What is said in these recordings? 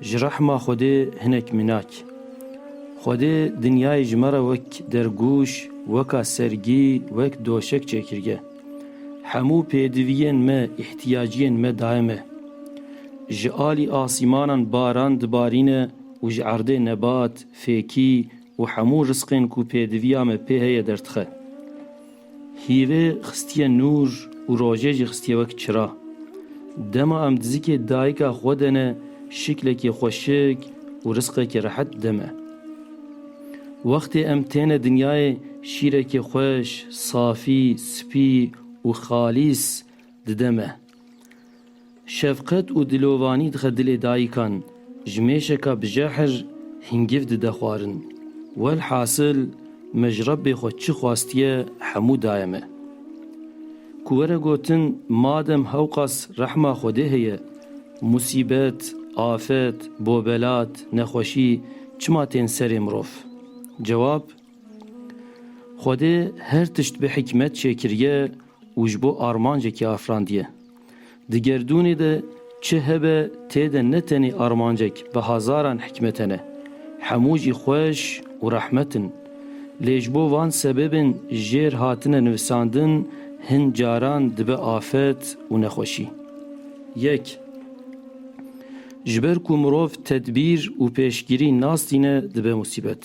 Ji rehma Xwedê hinek minak. Xwedê dinyayê ji me re wek dergûş, weka sergî, wek doşek çêkirge. Hemû pêdiviyên me, îhtiyaciyên me daye me. Ji alî asîmanan baran dibarîne û ji erdê nebat, fêkî û hemû risqên ku pêdiviya me pê heye derdixe. Hîrê xistiye nûr û rojê jî xistiye wek çira. Dema em dizikê dayika xwe de ne şiklekî xweşik û risqekî rehet dime e. Wextê em têne dinyayê şîrekî xweş, safî, spî û xalîs dide me. Şefqet û dilovanî dixe dilê dayikan, ji mêşeka bi jehir hîngîv dide xwarin. Welhasil me ji Rebbê xwe çi xwestiye hemû daye me. Ku were gotin madem hewqas rehma Xwedê heye, musîbet, afet, bobelat, nexweşî çima tên serê mirov? Cewab, Xwedê her tişt bi hikmet çêkiriye û ji bo armancekê afirandiye. Di gerdûnê de çi hebe tê de ne tenê armancek bi hezaran hikmet hene. Hemû jî xweş û rehmet in. Lê ji bo van sebebên jêr hatine nivisandin hin caran dibe afet û nexweşî. Yek. Ji ber ku mirov tedbîr û pêşgirî nas tîne dibe musîbet.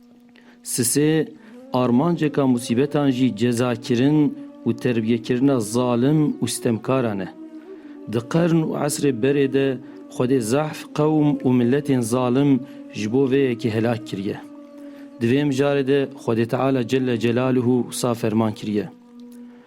Sisê, armanceka musîbetan jî cezakirin û terbiyekirina zalim û sitemkaran e. Di qern û esrê berê de Xwedê zehf qewm û miletên zalim ji bo vê yekê helak kiriye. Di vê mijarê de Xwedê Teala Celle Celaluhu wisa ferman kiriye.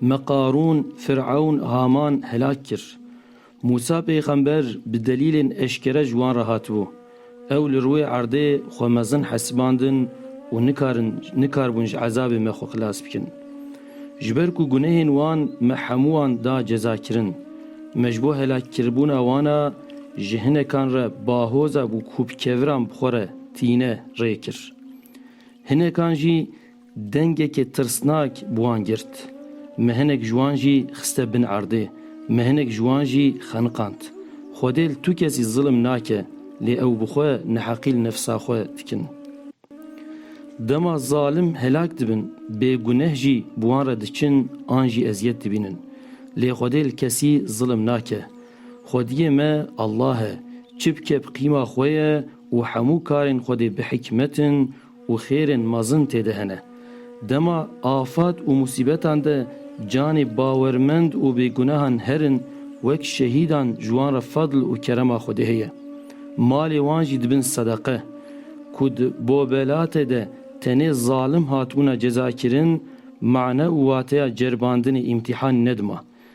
Me Qarûn, Firewn, Haman helak kir. Mûsa pêxember bi delîlên eşkere ji wan re hatibû. Ew li rûyê erdê xwe mezin hesibandin û nikarin nikaribûn ji ezabê me xwe xilas bikin. Ji ber ku gunehên wan me hemû wan da cezakirin. Me ji bo helakkiribûna wana ji hinekan re bahoza ku kûpkeviran bi xwe re tîne rê kir. Hinekan jî Dengekê tirsnak bi wan girt. Me hinek ji wan jî xiste bin erdê. Me hinek ji wan jî xeniqand. Xwedê li tu kesî zilim nake, lê ew bi xwe neheqî li nefsa xwe dikin. Dema zalim helak dibin, bêguneh jî bi wan re diçin an jî eziyet dibînin. Lê Xwedê li kesî zilim nake. Xwediyê me Allah e. Çi bike bi qîma xwe ye û hemû karên Xwedê bi hikmet in û xêrên mezin tê de hene. Dema afet û musîbetan de canê bawermend û bêgunehan herin, wek şehîdan ji wan re fedl û kerema Xwedê heye. Malê wan jî dibin sedeqe. Ku di Bobelatê de tenê zalim hatibûna cezakirin, mane û wateya ceribandinê îmtîhan nedima.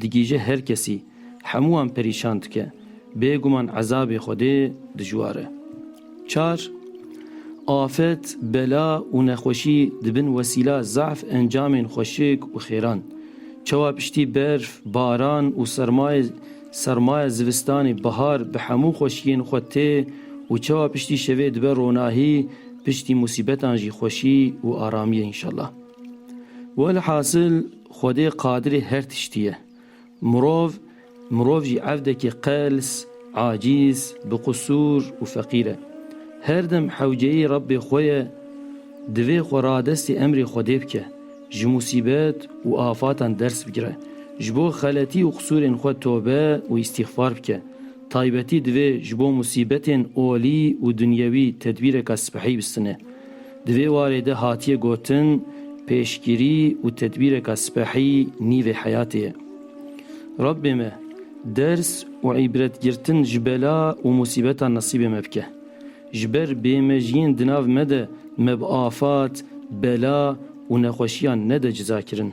Digihîje her kesî, hemû wan perîşan dike. Bêguman ezabê Xwedê dijwar e. Çar, Afet, bela û nexweşî dibin wesîla zaf encamên xweşik û xêran. Çawa piştî berf, baran û sermayê sermaya zivistanê bihar bi hemû xweşiyên xwe tê û çawa piştî şevê dibe ronahî, piştî musîbetan jî xweşî û aramiyê înşellah. Welhasil. Xwedê qadirê her tiştî ye. Mirov, mirov jî evdekî qels, acîz, bi qusûr û feqîr e. Her dem hewceyî Rebbê xwe ye, divê xwe radestî emrê Xwedê bike, ji musîbet û afatan ders bigire, ji bo xeletî û qusûrên xwe tobe û îstîxfar bike. Taybetî divê ji bo musîbetên olî û dunyewî tedbîreka sipehî bistine. Di vê warê de hatiye gotin, pêşgirî û tedbîreka spehî nîvê heyatê ye. Rabbê me ders û îbretgirtin ji bela û musîbetan nesîbê me bike. Ji ber bêmejiyên di nav me de me bi afat, bela û nexweşiyan nede cizakirin.